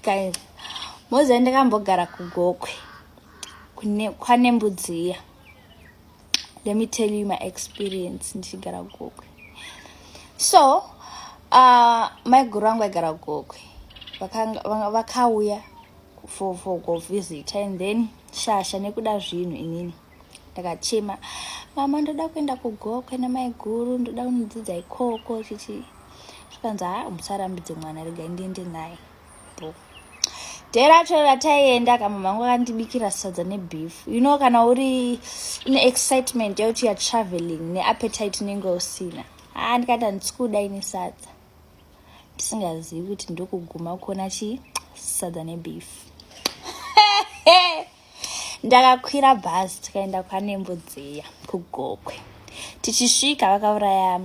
guys moziva ndakambogara kugokwe kwane mbudzi iya let me tell you my experience ndichigara kugokwe so uh, maiguru vangu vaigara kugokwe vakauya for, for kuvisita and then shasha nekuda zvinhu inini ndakachema mama ndoda kuenda kugokwe namaiguru ndoda kunodzidza ikoko chichi zvikanzi ha musarambidze mwana regai ndiende naye bo dee racho rataienda kama mangu akandibikira sadza nebeef you know kana uri une excitement yekuti youare traveling neappetite unenge usina ha ah, ndikati handisi kuda ini sadza ndisingazivi kuti ndokuguma kuona chii sadza nebeef ndakakwira bhazi tikaenda kwanembo dziya kugokwe tichisvika vakauraya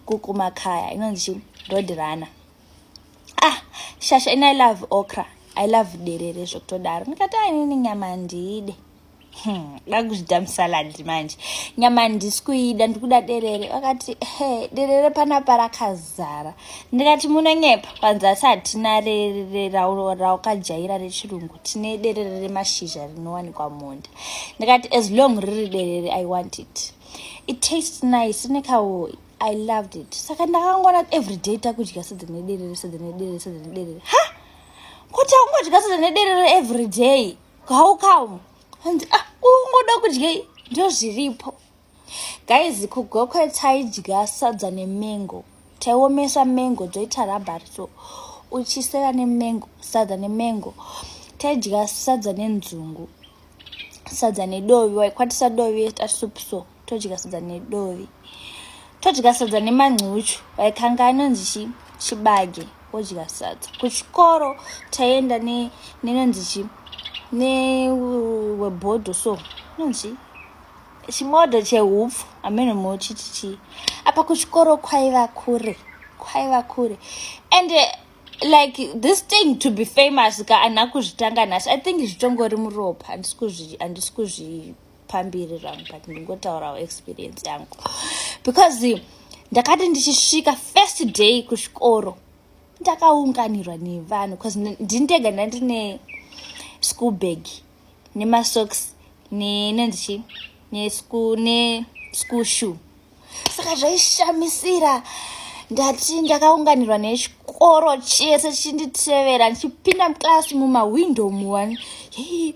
kukumakaya inonzi chi road runner ah shasha ini i love okra i love derere zvokutodaro ndikati ainini nyama ndiide Hmm, ndakuzvida musaladi manje nyama handisi kuida ndikuda derere vakati he derere panapa rakazara ndikati munonyepa panzasi hatina rererauraukajaira rechirungu tine derere remashizha rinowanikwa munda ndikati as long riri derere i want it it taste nice rine kawoyi i loved it saka ndakangona every day takudya sedzine derere sedzine derere sedzine derere ha kuti akungodya sedzine derere every day how come hanzi ah ungoda kudyei ndozviripo guys kugokwe taidya sadza nemengo taiomesa mengo dzoita rabhari so uchisera nemengo sadza nemengo taidya sadza nenzungu sadza nedovi waikwatisa dovi eta soup so todya sadza nedovi todya sadza nemancuchu waikanga anonzi chi chibage wodya sadza kuchikoro taienda nenonzi chi newebhodho so inonzi chimodho chehupfu ameno mochiti chii apa kuchikoro kwaiva kure kwaiva kure and eh, like this thing to be famous ka ana kuzvitanga nhasi i think zvitongori muropa handisi kuzvipambiri rangu but ndingotaurawo experience yangu because ndakati ndichisvika first day kuchikoro ndakaunganirwa nevanhu bcause ndindega ndandine school bag nemasocks nenonzi chii neschool shoe saka zvaishamisira ndati ndakaunganirwa nechikoro chese chinditevera ndichipinda muclass mumahwindo muwani hei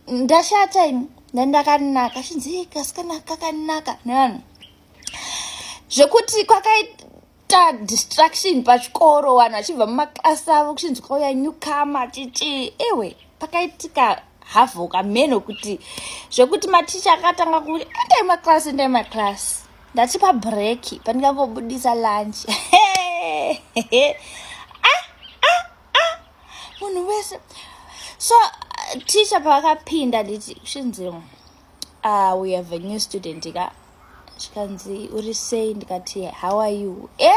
ndashata ini ndandakanaka chinzi kasikana kakanaka nevanhu zvekuti kwakaita ta distraction pachikoro vanhu vachibva mumaklasi avo kuchinzi kwauya newcomer chichii ewe pakaitika havo kamheno kuti zvekuti maticha akatanga kuti endai maklasi endai maklasi ndati pabreki pandingangobudisa lunch ah, ah, ah. munhu wese so ticha pavakapinda nditi shinzimu ah we have a new student ka zvikanzi uri sei ndikati how are you e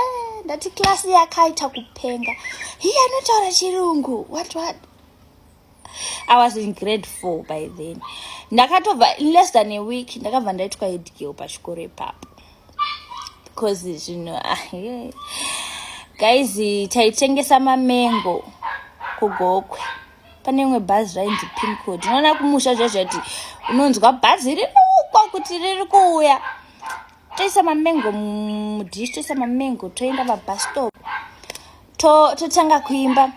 ndati klasi yakaita kupenga hiye anotaura chirungu what what i was in grade four by then ndakatobva in less than a week ndakabva ndaitwa edgeo pachikoro ipapo because zvino ah, guys taitengesa mamengo kugokwe pane imwe bhazi zvainzi pincod unoona kumusha zvaizvati unonzwa bhazi riri kuukwa kuti riri kuuya toisa mamengo mudish toisa mamengo toenda pabhastop totanga kuimba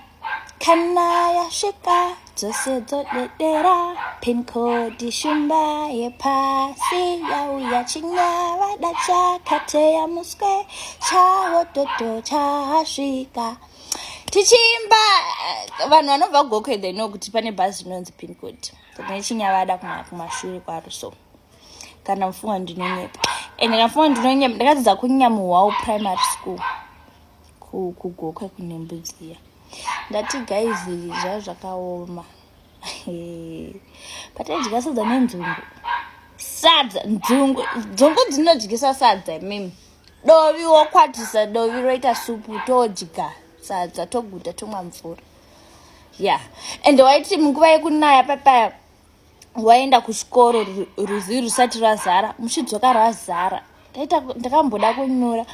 kana yasvika dzose dzodedera pincod shumba yepasi yauya chinyavada chakateya muswe chawo toto chasvika tichiimba eh, vanhu vanobva gokwe they know kuti pane bhazi rinonzi pincod tine chinyavada kumashure kwaro so kana mfunga ndinonyepa and kana mfunga ndinonyepa ndakadzidza kunyamuhwawo primary school kugokwe kune mbudziya ndati guys zvaa zvakaoma pataidya sadza nenzungu sadza nzungu dzungu dzinodyisa sadza mimi dovi wokwatisa dovi roita supu todya sadza toguta tomwa mvura ya yeah. and waiti munguva yekunaya papaya waenda kuchikoro ruzivi rusati rwazara muchidzoka rwazara ndakamboda kunyura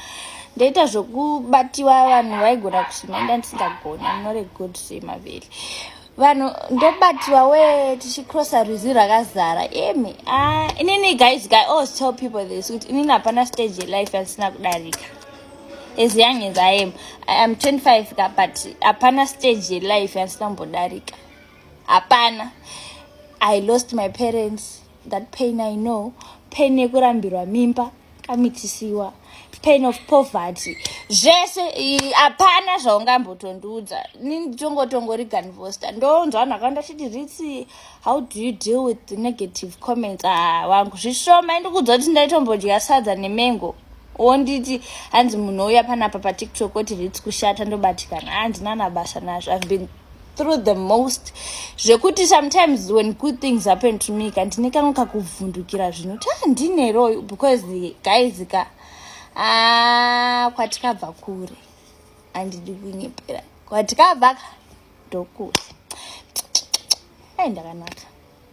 ndaita zvokubatiwa vanhu vaigona kusima inda ndisingagona munoregod semaveli vanhu ndobatirwa we tichicrossa rwizi rwakazara imi ah, inini guys guy always tell people this kuti inini hapana stage yelife yandisina kudarika as young as i am i am 25 ka but hapana stage yelife yandisina kumbodarika hapana i lost my parents that pain i know pain yekurambirwa mimba kamitisiwa pain of poverty zvese hapana zvaungambotondiudza nitongotongoriga ndivosta ndonzwa vanhu vakawanda chiti ritsi how do you deal with the negative comments ah, wangu zvishoma indikuudza kuti ndaitombodya sadza nemengo wonditi hanzi munhu ouya panapa patiktok oti ritsi kushata ndobatikana handina nabasa nazvo i've been through the most zvekuti sometimes when good things happen to me ka ndine kangu kakuvhundukira zvinhu kuti ah, ndine royo because guys ka ah, kwatikabva kure andidi kunyepera kwatikabva ka ndokure ai ndakanaka